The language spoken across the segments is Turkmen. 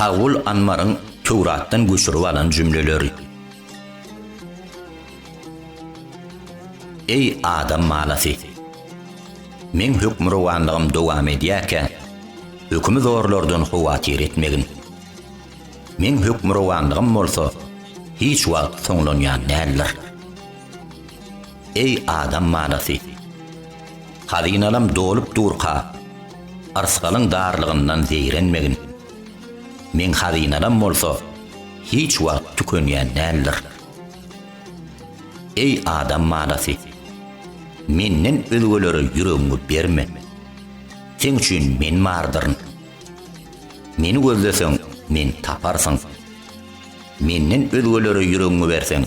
Kagul Anmaryň Töwratdan göçürip alan jümleleri. Eý, adam balasy! Meň hökmürowanlygym dowam edýärkä, hökümi zorlardan howatyr etmegin. Meň hökmürowanlygym bolsa hiç wagt soňlanýan däldir. Eý adam manasy! Hazynalam dolup durka, yrsgalyň darlygyndan zeýrenmegin. Meň hazynalam bolsa hiç wagt tükenýän däldir. Eý adam manasy! Menden özgelere ýüregiňi berme. Seň üçin Men bardyryn. Meni gözleseň, Meni taparsyň. Menden özgelere ýüregiňi berseň,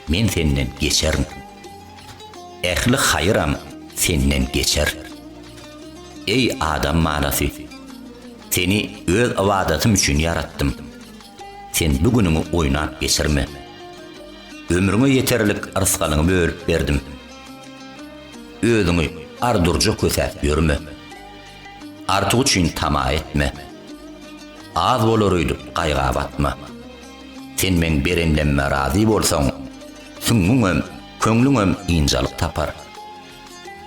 men senden geçerin. Ähli haýyram senden geçer. Eý, adam balasy! Seni Öz ybadatym üçin ýaratdym. Sen bu günüňi oýnap geçirme. Ömrüňe ýeterlik rysgalyňy bölüp berdim. Özüňi ar-durja kösäp ýörme. Artyk üçin tama etme. Az bolar öýdüp gaýga batma. Sen meň berenlemme razy bolsaň, süňňüňem, köňlüňem ynjalyk tapar.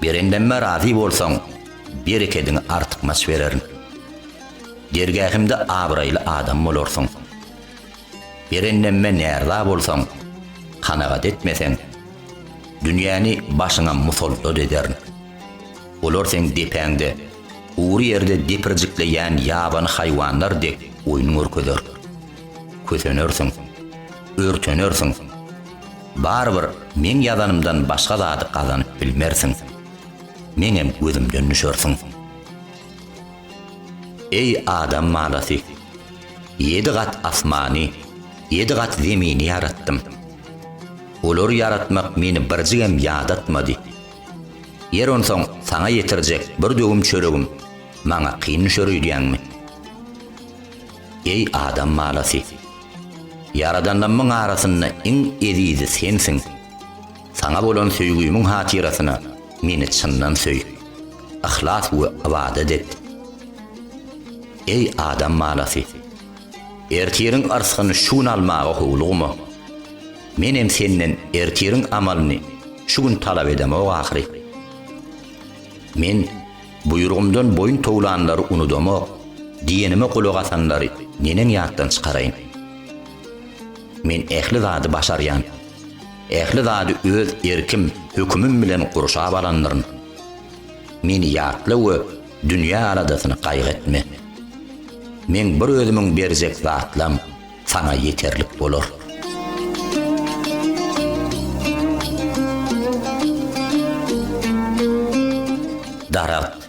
Berenlemme razy bolsaň, berekediňi artykmaç bererin. Dergähimde abraýly adam bolarsyň. Berenlemme närza bolsaň, kanagat etmeseň, dünýäni başyňa musallat ederin. Olar seň depäňde, gury ýerde depirjikleýän ýabany haýwanlar dek oýun görkezer. Kösenersiň. Örtenersiň. Barybir meň ýazanymdan başga zady gazanyp bilmersiň. Meňem gözümden düşersiň. Eý adam balasy! Ýedi gat asmany, ýedi gat zemini ýaratdym. Olary ýaratmak meni birjigem ýadatmady. Ýer onsoň saňa ýetirjek bir döwüm çöregim maňa kyn düşer öýdýäňmi? Eý adam balasy! Ýaradanlarymyň arasynda iň ezizi sensiň. Saňa bolan söýgümiň hatyrasyna meni çyndan söý, yhlas we ybadat et. Eý adam balasy! Ertiriň yrsgyny şu gün almaga howlugma. Menem senden ertiriň amalyny şu gün talap edemok ahyry. Men, Buýrugymdan boýun towlanlary unudamok, diýenime gulak asanlary neneň ýatdan çykaraýyn? Men ähli zady başarýan. Ähli zady öz erkim, hökümim bilen gurşap alandyryn. Meni ýatla we dünýä aladasyny gaýgy etme. Meň bir özümiň berjek zatlam, Saňa ýeterlik bolar. Daragt.